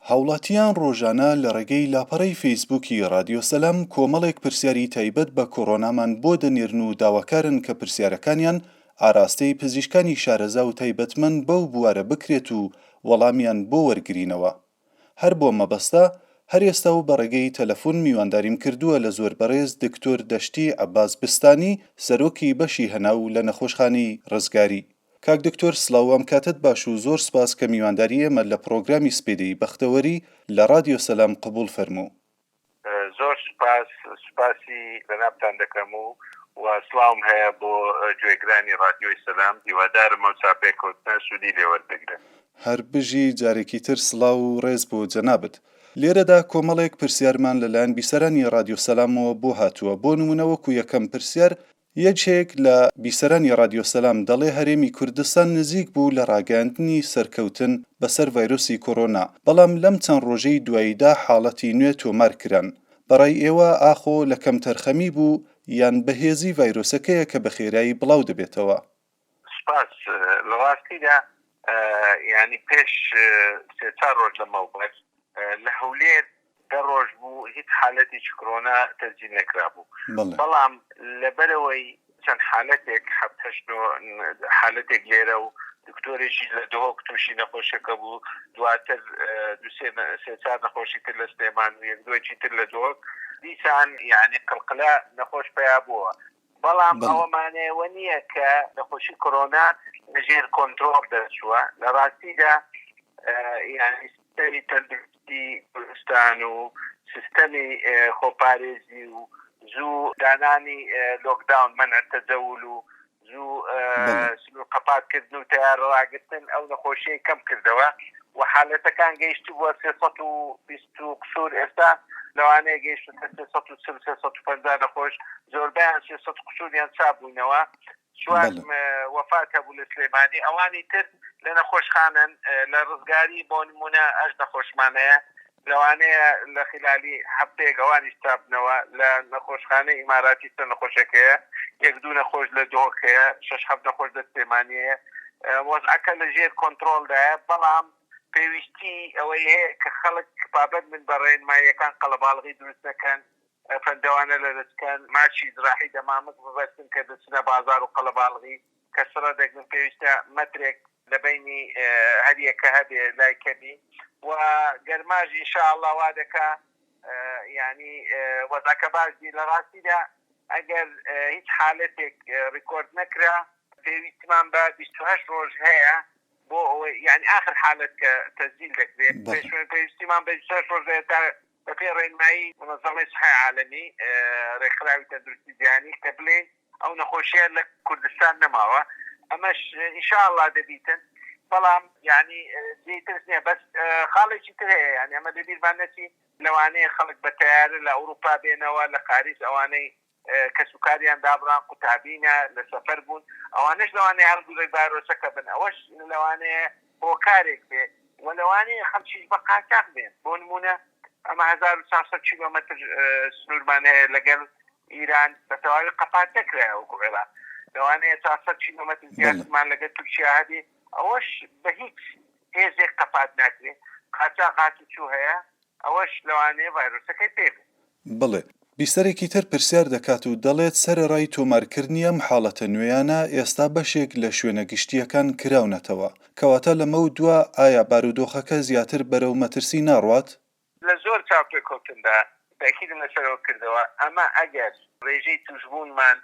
هاوڵاتیان ڕۆژانە لە ڕێگەی لاپەڕەی فەیسبووکی ڕادیۆ سەلام کۆمەڵێک پرسیاری تایبەت بە کۆڕۆنامان بۆ دەنێرن و داواکارن کە پرسیارەکانیان ئاراستەی پزیشکانی شارەزا و تایبەتمەند بەو بوارە بکرێت و وەڵامیان بۆ وەرگرینەوە هەر بۆم مەبەستە هەر ئێستا و بە ڕێگەی تەلەفون میوانداریم کردووە لە زۆر بەڕێز دکتۆر دەشتی عەباس بستانی سەرۆکی بەشی هەناو لە نەخۆشخانەی ڕزگاری کاک دکتۆر سڵاو وام کاتەت باش و زۆر سپاس کە میوانداری ئێمە لە پڕۆگرامی سپیدەی بەختەوەری لە ڕادیۆ سەلام قبوڵ فەرموو. زۆر سوپاس سوپاسی جەنابتان دەکەم و سڵاوم هەیە بۆ گوێگرانی ڕادیۆی سەلام هیوادارم ئەو چاپێکەوتنە سوودی لێ وەربگرن. هەر بژی جارێکی تر سڵاو و ڕێز بۆ جەنابت. لێرەدا کۆمەڵێک پرسیارمان لەلایەن بیسەرانی ڕادیۆ سەلامەوە بۆ هاتووە بۆ نموونە وەکو یەکەم پرسیار یەکێک لە بیسەرانی رادیۆ سەلام دەڵێ هەرێمی کوردستان نزیک بوو لە راگەیاندنی سەرکەوتن بەسەر ڤایرۆسی کۆرۆنا، بەڵام لەم چەند رۆژەی دواییدا حاڵەتی نوێ تۆمار کران. بەڕای ئێوە ئاخۆ لە کەمتەرخەمی بوو یان بەهێزی ڤایرۆسەکەیە کە بەخێرایی بڵاو دەبێتەوە؟ سپاس لە ڕاستیدا یانی پێش سێ چار ڕۆژ لە مەوبەر لە هەولێر دە ڕۆژ بوو هیچ حالەتیچ کرۆنا تەسجیل نەکرابوو بەڵام لە بەرەوەی چەند حالەتێک حەفت هەشت نۆ حالەتێک لێرە و دکتۆرێکیش لە دهۆک تووشی نەخۆشەکە بوو دواتر دو سێ سێ چار نەخۆشی تر لە سلێمان و یەک دوای چیتر لە دهۆک دیسان یانی قلقلە نەخۆش پیا بووە بەڵام ئەوە مانای ئەوە نییە کە نەخۆشی کۆرۆنا لەژێر کۆنترۆڵ دەرچووە، لە ڕاستیدا یانەی سیستەمی تەندروستی کوردستان و سیستەمی خۆپارێزی و زوو دانانی لۆکداون، مەنع تەجەول، و زوو. قەپاتکردن و تەیارە ڕاگرتن ئەو نەخۆشیەی کەمکردەوە و حالەتەکان گەیشتبووە سێ سەد و بیست و قسور ئێستا لەوانەیە گەیشتبێتە سێ سەد و چل سێ سەد و پەنجا نەخۆش زۆربەیان سێ سەد قسوریان چاپ بووینەوە چوار وەفات هەبوو لە سلێمانی ئەوانی تر لە نەخۆشخانەن لە ڕزگاری بۆ نمونە ئەژ نەخۆشمان هەیە لەوانەیە لە خیلالی هەفتەیەک ئەوانیش چاببنەوە لە نەخۆشخانەی ئیماراتی چەند نەخۆشێک هەیە یەک دوو نەخۆش لە دهۆک هەیە شەش حەفت نەخۆش لە سلێمانی هەیە وەزعەکە لە ژێر کۆنترۆڵدایە بەڵام پێویستی ئەوەی هەیە کە خەڵک پابەند بن بە ڕێنماییەکان قەڵەباڵغی دروست نەکەن پەندەوانە لەدەست کەن ماچی جراحی دەمامک ببەستن کە دەچنە بازار و قەڵەباڵغی کە سڕە دەگرن پێویستە مەترێک لە بەینی هەریەکە هەبێ لای کەبی و گەرماش ان شاء اللە وا دەکا یانی وەزعەکە باش بی لە ڕاستیدا ئەگەر هیچ حالەتێک ڕیکۆرد نەکرا پێویستمان بە بیست و هەشت ڕۆژ هەیە بۆ ئەوەی یانی ئاخر حالەت کە تەسجیل دەکرێ پێویستمان بە بیست و هەشت ڕۆژ هەیە تا بەپێی ڕێنمایی مونەزەمەی سحەی عالەمی، ڕێکخراوی تەندروستی جیهانی، کە بلێین ئەو نەخۆشیە لە کوردستان نەماوە ئەمەش ان شاء اللە دەبیتن بەڵام یانی جێی ترس نیە بەس خاڵێکی تر هەیە یانی ئەمە لەبیرمان نەچی لەوانەیە خەڵک بە تەیارە لە ئەوروپا بێنەوە لە قاریس ئەوانەی کەسوکاریان دابڕان قوتابینە لە سەفەر بوون ئەوانەش لەوانەیە هەڵگوڕی ڤایرۆسەکە بن ئەوەش لەوانەیە هۆکارێک بێ وە لەوانەیە خەڵکیش بە قاچاخ بێن بۆ نموونە ئەمە هەزار و چوار سەد کیلۆمەتر سنوورمان هەیە لەگەڵ ئیران بە تەواوی قەپات نەکرایە وەکو عێراق لەوانەیە چوار سەد کیلۆمەتر زیاترمان لەگەڵ تورکیا هەبێ ئەوەش بە هیچ هێزێک قەپات ناکرێ قاچاخ هاتوچوو هەیە. ئەوەش لەوانەیە ڤایرۆسەکەی پێ بێت. بڵێ. بیسەرێکی تر پرسیار دەکات و دەڵێت سەرەڕای تۆمارکردنی ئەم حاڵەتە نوێیانە، ئێستا بەشێک لە شوێنە گشتییەکان کراونەتەوە، کەواتە لەمەو دوا ئایا بارودۆخەکە زیاتر بەرەو مەترسی ناڕوات؟ لە زۆر چاوپێکەوتندا تەئکیدم لەسەرەوە کردەوە، ئەمە ئەگەر ڕێژەی تووشبوونمان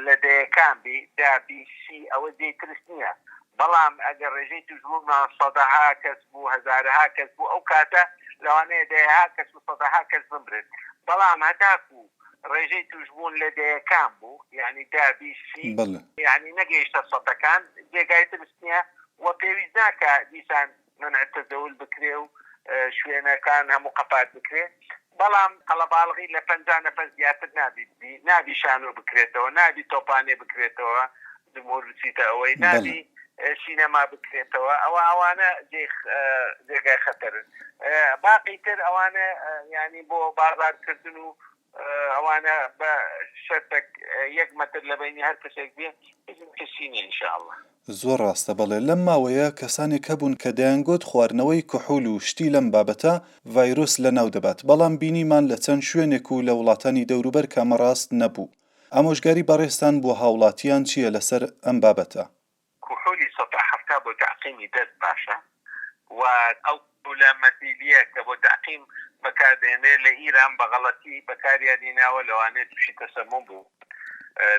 لە دەیەکان بی دا بی سی ئەوە جێی ترس نیە بەڵام ئەگەر ڕێژەی توشبوونمان سەدەها کەس بوو هەزارەها کەس بوو ئەو کاتە لەوانەیە دەیەها کەس و سەدەها کەس بمرن بەڵام هەتاکوو ڕێژەی توشبوون لە دەیەکان بوو یانی دا بی سی یانی نەگەیشتە سەتەکان جێگای ترس نیە و پێویست ناکا دیسان منع تزول بکرێ و شوێنەکان هەموو قەپات بکرێ بەڵام قەڵەباڵغی لە پەنجا نەفەر زیاتر نابی ببی نابی شانۆ بکرێتەوە نابی تۆپانێ بکرێتەوە جمهور بچیتە ئەوەی نابی سینەما بکرێتەوە ئەوە ئەوانە جێگای خەتەرن باقی تر ئەوانە یانی بۆ بازارکردن و ئەوانە بە سەر تەک یەک مەتر لە بەینی هەر کەسێک بێ هیچ مەترسی نیە ان شاء اللە. زۆر ڕاستە بەڵێ لەم ماوەیە کەسانێک هەبوون کە دەیانگۆت خواردنەوەی کحول و شتی لەم بابەتە ڤایرۆس لەناو دەبات بەڵام بینیمان لە چەند شوێنێک و لە وڵاتانی دەوروبەر کە ئەمە ڕاست نەبوو ئامۆژگاری بەڕێزتان بۆ هاوڵاتیان چیە لەسەر ئەم بابەتە کحولی سەد و حەفتا بۆ تەعقیمی دەست باشە و ئەو کحولە مەتیلیە کە بۆ تەعقیم بەکار دەهێنرێت لە ئیران بە غەڵەتی بەکاریان هیناوە لەوانەیە توشی تەسەموم بوو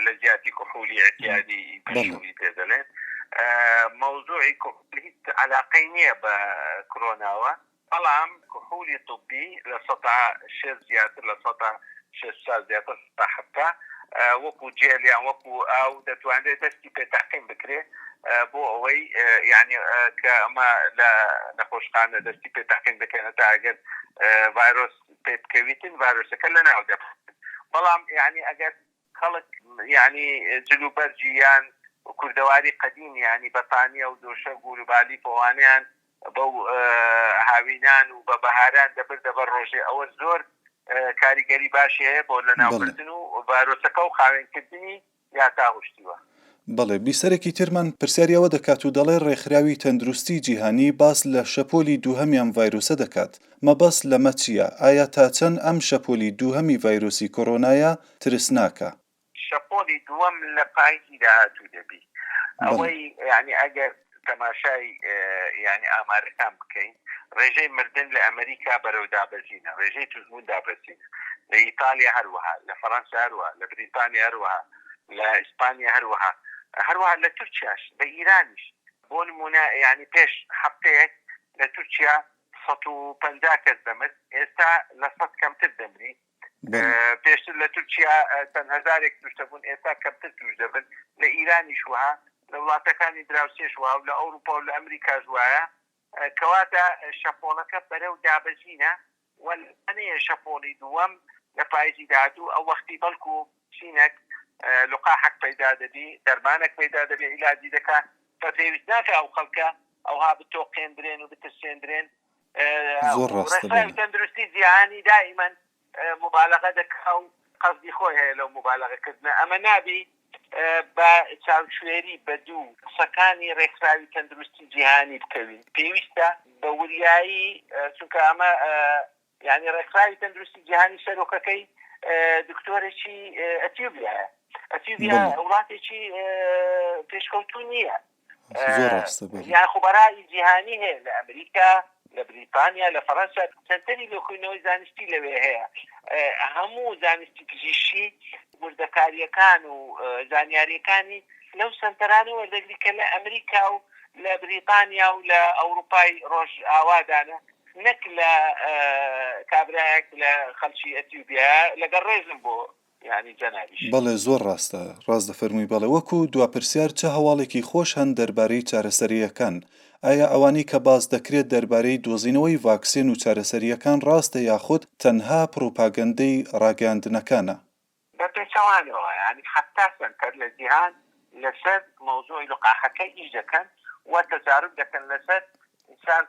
لە جیاتی کحولی اعتیادی پێشووی پێ دەلێن مەوزوعی کحول هیچ عەلاقەی نیە بە کرۆناوە. بەڵام کحولی طبی لە سەتا شێست زیاتر لە سەتا شێست و چوار زیاتر لە سەتا حەفتا وەکو جێل یان وەکو ئاو دەتوانرێت دەستی پێ تەعقیم بکرێ بۆ ئەوەی یانی کە ئەمە لە نەخۆشخانە دەستی پێ تەعقیم دەکەن هەتا ئەگەر ڤایرۆس پێ بکەویتن ڤایرۆسەکە لەناو دەبەن بەڵام یانی ئەگەر خەڵک یانی جل و بەرگی یان کوردەواری قەدیم یانی بە پانیە و دۆشەگ و روبالی پۆوانەیان بەو هاوینان و بە بەهاران دەبردە بەر رۆژێ ئەوە زۆر کاریگەری باشی هەیە بۆ لەناوبردن و ڤایرۆسەکە و خاوێن کردنی یاتاهوشتیوە. بەڵێ، بیسەرێکی ترمان پرسیاری ئەوە دەکات و دەڵێ ڕێکخراوی تەندروستی جیهانی باس لە شەپۆلی دووهەمی ئەم ڤایرۆسە دەکات، مەبەست لەمە چییە؟ ئایا تا چەند ئەم شەپۆلی دووهەمی ڤایرۆسی کۆرۆنایە ترسناکە؟ شەپۆلی دووەم لە پاییزی داهاتوو دەبی. بەڵێ. ئەوەی یانی ئەگەر تەماشای یانی ئامارەکان بکەین ڕێژەی مردن لە ئەمریکا بەرەو دابەزینە ڕێژەی توشبوون دابەزینە لە ئیتالیا هەروەها لە فەرەنسا هەروەها لە بریتانیا هەروەها لە ئیسپانیا هەروەها هەروەها لە تورکیاش لە ئیرانیش بۆ نموونە یانی پێش هەفتەیەک لە تورکیا سەد و پەنجا کەس دەمرد ئێستا لە سەد کەمتر دەمری پێشتر لە تورکیا چەند هەزارێک توش دەبوون ئێستا کەمتر توش دەبن لە ئیرانیش وەها لە وڵاتەکانی دراوسێش وەها و لە ئەوروپا و لە ئەمریکاش وایە کەواتە شەپۆڵەکە بەرەو دابەزینە و لەوانەیە شەپۆڵی دووەم لە پایزی داهاتوو ئەو وەختی بەڵکو چینەک لقاحەک پەیدا دەبی دەرمانەک پەیدا دەبێ ئیلاجی دەکا پێویست ناکا ئەو خەڵکە ئەوها بتۆقێندرێن و بترسێندرێن زۆر ڕاستە بەڵێ. ڕێسای تەندروستی جیهانی دائیما موبالەغە دەکا و قەسدی خۆی هەیە لەو موبالەغە کردنە ئەمە نابی بە چاوشوێری بە دوو قسەکانی ڕێکخراوی تەندروستی جیهانی بکەوین پێویستە بە وریایی چونکە ئەمە یانی ڕێکخراوی تەندروستی جیهانی سەرۆکەکەی دکتۆرێکی ئەتیوبیایە ئەتیوبیا وڵاتێکی پێشکەوتوو نییە زۆر ڕاستە بەلێ. یان خۆ بەرهەی جیهانی هەیە لە ئەمریکا، لە بریتانیا، لە فەرەنسا، سەنتەری لێکۆینەوەی زانستی لەوێ هەیە. هەموو زانستی پزیشکی وردەکارییەکان و زانیارییەکانی لەو سەنتەرانە وەردەگری کە لە ئەمریکا و لە بریتانیا و لە ئەوروپای ڕۆژئاوادانە نەک لە کابرایەک لە خەڵکی ئەسیوبیا. لەگەڵ ڕێزم بۆ. یانی جەنابیش. بەڵێ زۆر ڕاستە، ڕاست دەفەرمووی بەڵێ وەکو دوا پرسیار چ هەواڵێکی خۆش هەن دەربارەی چارەسەرییەکان؟ ئایا ئەوانەی کە باس دەکرێت دەربارەی دۆزینەوەی ڤاکسێن و چارەسەرییەکان ڕاستە یاخود تەنها پڕوپاگەندەی ڕاگەیاندنەکانە؟ بە پێچەوانەوە یانی حەفتا سەنتەر لە جیهان لەسەر مەوزوعی لقاحەکە ئیش دەکەن و تەجاروب دەکەن لەسەر ئینسان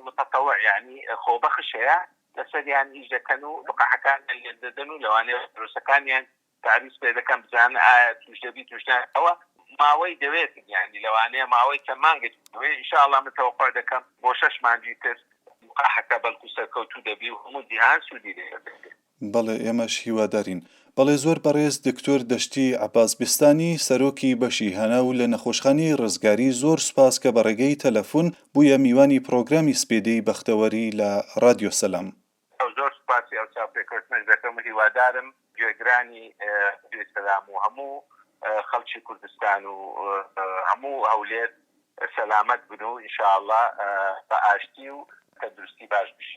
متطوع یانی خۆبەخش هەیە لەسەریان ئیش دەکەن و لقاحەکانیان لێک دەدەن و لەوانەیە ڤایرۆسەکانیان تەعریز پێ دەکەن بزانن ئایا تووش دەبیت تووش نا ئەوە ماوەی دەوێتن یانی لەوانەیە ماوەی چەند مانگێک بوێ ان شاءاللە من تەوەقوع دەکەم بۆ شەش مانگی تر لقاحەکە بەلکو سەرکەوتوو دەبی و هەموو جیهان سوودی لێ دەبێت. بەڵێ ئێمەش هیوادارین. بەڵێ زۆر بەڕێز دکتۆر دەشتی عەباس بیستانی سەرۆکی بەشی هەناو لە نەخۆشخانەی ڕزگاری زۆر سوپاس کە بەڕێگەی تەلەفون بویە میوانی پڕۆگرامی سپیدەی بەختەوەری لە ڕادیۆ سەلام. ئەو زۆر سوپاسی ئەو چاوپێکەوتنەش دەکەم و هیوادارم گوێگرانی ڕادیۆی سەلام و هەموو خەڵکی کوردستان و هەموو هەولێر سەلامەت بن و ان شاءاللە بە ئاشتی و تەندروستی باش بژین.